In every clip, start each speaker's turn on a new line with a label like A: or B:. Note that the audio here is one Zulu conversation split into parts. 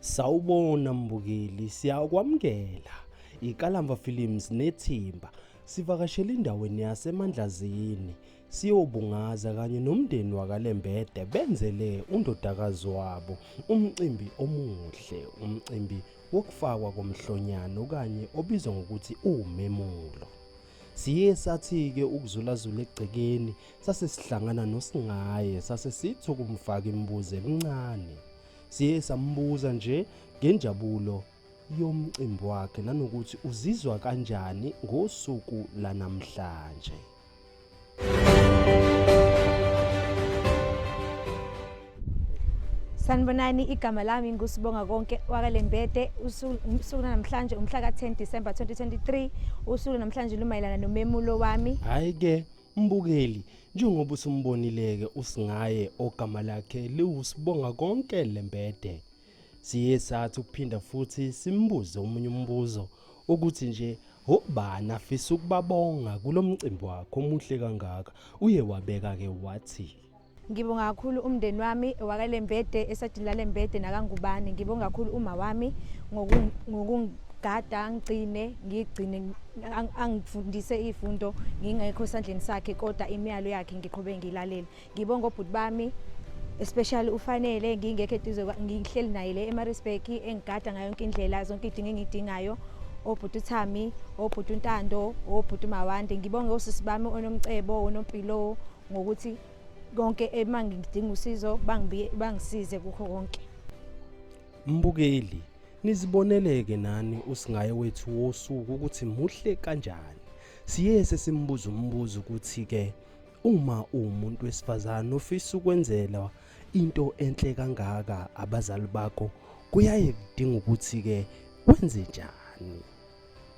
A: Sawubona mbukeli, siyakwamukela. IKalamba Films nethimba sivakashela endaweni yaseMandlazini siyobungaza kanye nomndeni wakaLembede benzele undodakazi wabo umcimbi omuhle, umcimbi wokufakwa komhlonyana okanye obizwa ngokuthi uwumemulo. Siye sathi-ke ukuzulazula egcekeni sase sihlangana nosingaye sase sithi ukumfaka imibuzo emincane siye sambuza nje ngenjabulo yomcimbi wakhe nanokuthi uzizwa kanjani ngosuku lanamhlanje
B: Sanibonani igama lami ngusibonga konke wakalembede usuku namhlanje umhla ka-10 December 2023 usuku namhlanje lumayelana nomemulo wami hayi ke
A: Mbukeli, njengoba usumbonileke usingaye ogama lakhe liwusibonga konke lembede. Siye sathi ukuphinda futhi simbuze omunye umbuzo ukuthi nje obani afisa ukubabonga kulomcimbi wakho omuhle kangaka uye wabeka ke wathi Ngibonga kakhulu
B: umndeni wami wakaLembede esadini laLembede nakangubane. Ngibonga kakhulu uma wami ngokungigada ngigcine ngigcine angifundise izifundo ngingekho esandleni sakhe kodwa imiyalo yakhe ngiqhube ngilalele. Ngibonga obhuti bami especially ufanele ngingekho eduze ngihleli naye le eMaritzburg engigada ngayo yonke indlela zonke idinga engidingayo obhuti uThami obhuti uNtando obhuti uMawande ngibonge osisi bami onomcebo onompilo ngokuthi konke uma ngidinga usizo bangisize kukho konke
A: mbukeli niziboneleke nani usingaye wethu wosuku ukuthi muhle kanjani siye sesimbuza umbuzo ukuthi-ke uma uwumuntu wesifazane ofisa ukwenzela into enhle kangaka abazali bakho kuyaye kudinga ukuthi-ke wenze njani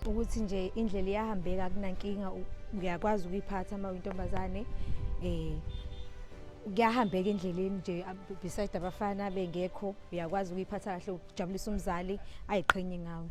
A: ukuthi
B: nje indlela iyahambeka kunankinga ngiyakwazi ukuyiphatha uma uyintombazane eh kuyahambeka endleleni nje beside abafana bengekho uyakwazi ukuyiphatha kahle ukujabulisa umzali ayiqhenye ngawe